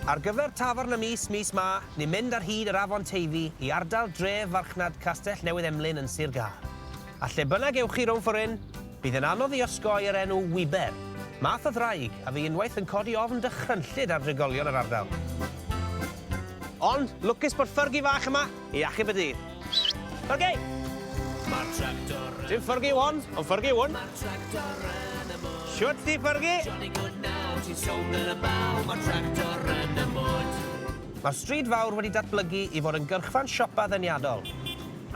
Ar gyfer Tafarn y Mis mis 'ma, ni'n mynd ar hyd yr Afon Teifi i ardal dref farchnad Castell Newydd Emlyn yn Sir Gâr. A lle bynnag ewch chi rownd ffor' hyn, bydd yn anodd i osgoi yr enw 'Wiber', math o ddraig a fu unwaith yn codi ofn dychrynllyd ar drigolion yr ardal. Ond, lwcus bod ffyrgi fach yma! I achub y dydd. Ok! Ma'r tractor yn... Dim ffyrgu yw hon, ond ffyrgu yw hwn. Ma'r tractor yn y mwd. Shwt ti ffyrgu? Jolly good now, ti'n sownd yn y baw, ma'r tractor yn y mwd. Mae'r stryd fawr wedi datblygu i fod yn gyrchfan siopa ddeniadol,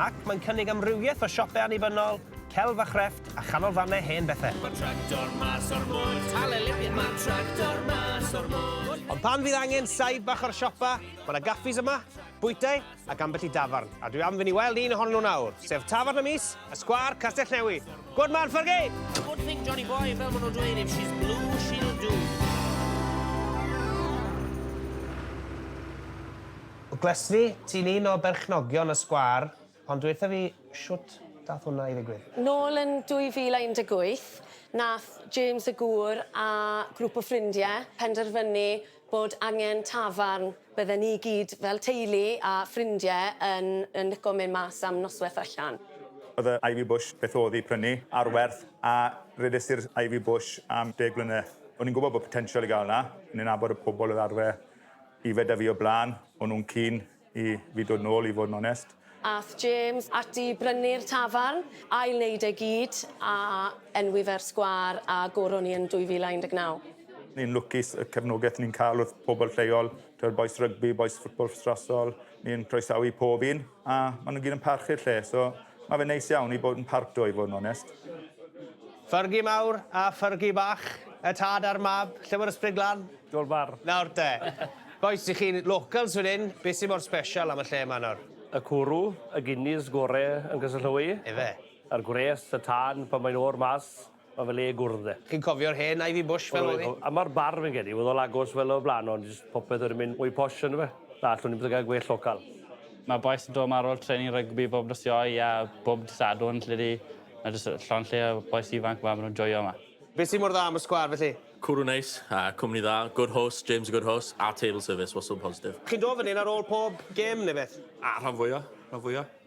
ac mae'n cynnig amrywiaeth o siopau annibynnol, celf a chrefft, a chanolfannau hen bethau. Ma'r tractor mas o'r mwd. Halelujah! Ma'r tractor mas o'r mwd. Ond pan fydd angen saib bach o'r siopa, mae 'na gaffis yma, bwytai ac ambell i dafarn, a dwi am fynd i weld un ohonyn nhw nawr, sef Tafarn y Mis, y Sgwâr, Castell Newi. Good man, Fergie! Good thing, Johnny boy, fel maen nhw'n dweud, if she's blue, she'll do. Gles fi, ti'n un o berchnogion y sgwâr, ond dweitha fi, shwt dath hwnna i ddigwydd? Nôl yn 2018, nath James y Gŵr a grŵp o ffrindie penderfynu bod angen tafarn, bydden ni i gyd fel teulu a ffrindie yn yn lico mynd mas am nosweth allan. Oedd y Ivy Bush beth oedd i prynu ar werth a redais i'r Ivy Bush am deg mlynedd. O'n i'n gwybod bod potensial i gael 'na, o'n i'n nabod y pobl oedd arfer yfed 'da fi o blaen, o'n nhw'n cyn. I fi dod nôl i fod yn onest. Ath James ati i brynu'r tafarn, ail neud e gyd, a enwi fe'r sgwâr a goron ni yn 2019. Ni'n lwcus y cefnogeth ni'n ca'l wrth pobl lleol, t'wod bois rygbi, bois ffwtbol fstrasol, ni'n croesawu pob un, a ma' nw gyd yn parchu'r lle, so Mae fe'n neis iawn i bod yn part o i fod yn onest. Fergie mawr a Fergie bach. Y tad a'r mab. Lle mae'r ysbryd glân? Dol bar. Nawr te. Bois, i chi'n locals fan hyn, beth sy'n mor special am y lle yma nawr? Y cwrw, y Guinness gore yn Cysylltwy. Ife? A'r gwres, y tân pan mae'n oer mas. Ma fe le gwrdd de. Chi'n cofio'r hen Ivy Bush fel o'dd 'i? A ma'r bar fi'n credu o'dd o'n agos fel o'r bla'n ond jyst popeth wedi mynd mwy posh on'd yfe? Na allwn i byth yn cael gwell local. Ma bois yn do ma ar ol training rygbi bob nos sioe a bob dy Sadwrn lle di ma jyst llond lle o bois ifanc ma ma nw'n joio ma. Be sy mor dda am y sgwâr felly? Cwrw neis, a cwmni dda, good host, James a good host, a table service wastad yn positif. Chi'n do fyn 'yn ar ol pob gêm ne beth? Ah rhan fwya, rhan fwya.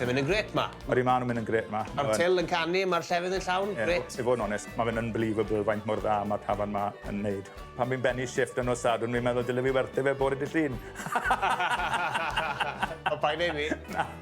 Pethe'n mynd yn grêt 'ma. Odi, maen nhw'n mynd yn grêt 'ma. Ma'r til yn canu, ma'r llefydd yn llawn, grêt. I fod yn onest, ma' fe'n unbelievable faint mor dda ma'r tafarn 'ma yn neud. Pan fi'n bennu shifft ar nos Sadwrn fi'n meddwl dylen fi werthu fe bore dydd Llun. O paid neud 'ny. Na.